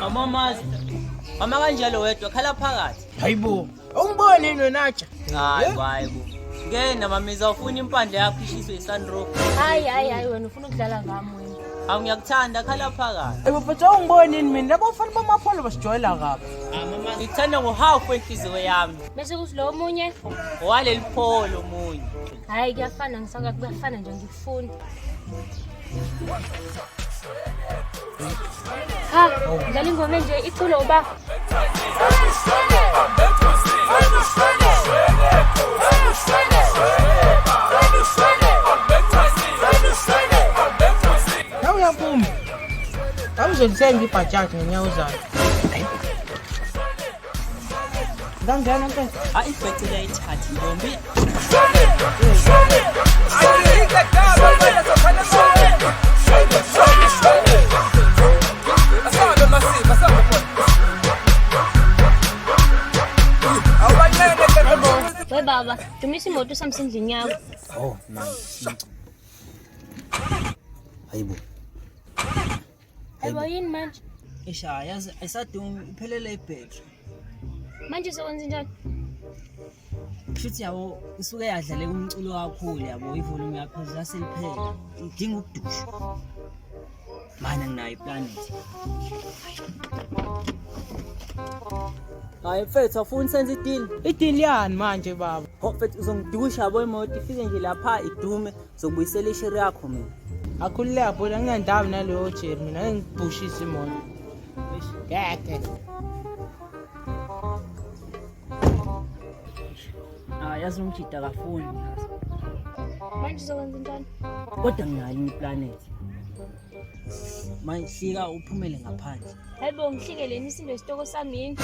Mama Master, mama kanjalo wedwa khala phakathi. Hayibo, awumbone yini wena atsha? Hayi, hayi bo. Ngena mama izawufuna impandla yakho ishiswe iSunroof. Hayi hayi hayi wena ufuna ukudlala ngami wena. Awu ngiyakuthanda khala phakathi. Hayibo, but awungiboni yini mina? Labo fanele bamapholo basijwayela kabi. Ngikuthanda ngo-half wenhliziyo yami. bese kuthi lo omunye waleli pholo omunye hhayi kuyafana ngisaka kuyafana nje ngikufuni ha ngidlala ingoma enje iculo uba Awuyaphuma. Awuzolithenga ibhajaji ngenyawo zayo. ngangena ke hayi ibhece liyayithatha ntombi we baba dumisa imoto usamsendlini yakho oh mama hayibo Aybo yini manje? Eish hayi yazi ayisadungi iphelele ibhetri. Manje sokwenza njani? Kushuthi yabo isuke yadlale umculo kakhulu yabo ivolume yaphezulu yaseliphele. Idinga ukudusha. Manje nginayo iplanet. Hayi mfethu awufuni senze idili. Idili yani manje baba? Ho mfethu uzongidusha yabo imoto ifike nje lapha idume Zokubuyisela ishiri yakho mina. Akhulile yabona ngingandawo naleyo jeri mina engibhushisa imoto. Ngeke. Ah, yazi umjida kafuni. Manje uzokwenza njani? Kodwa nginayo iplanet. mayihlika uphumele ngaphandle hayibo ngihlikele imisindo isitoko sami yini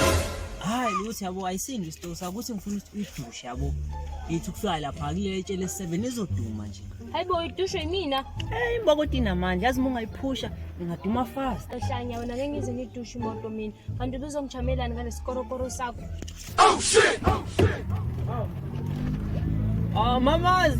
hayi lutho yabo ayisindi isitoko sakho ukuthi ngifuna ukuthi uyidushe yabo yithi kusuka lapha kulelo etshe lesi-seven izoduma nje hayibo uyidushwe yimina eyi mbokoti inamandla yazi uma ungayiphusha ingaduma fast ehlanya wena ngeke ngize ngidushe imoto mina kanti ubuzongijamelani ngalesikorokoro sakho oh shit oh shit oh Ah, mamazi.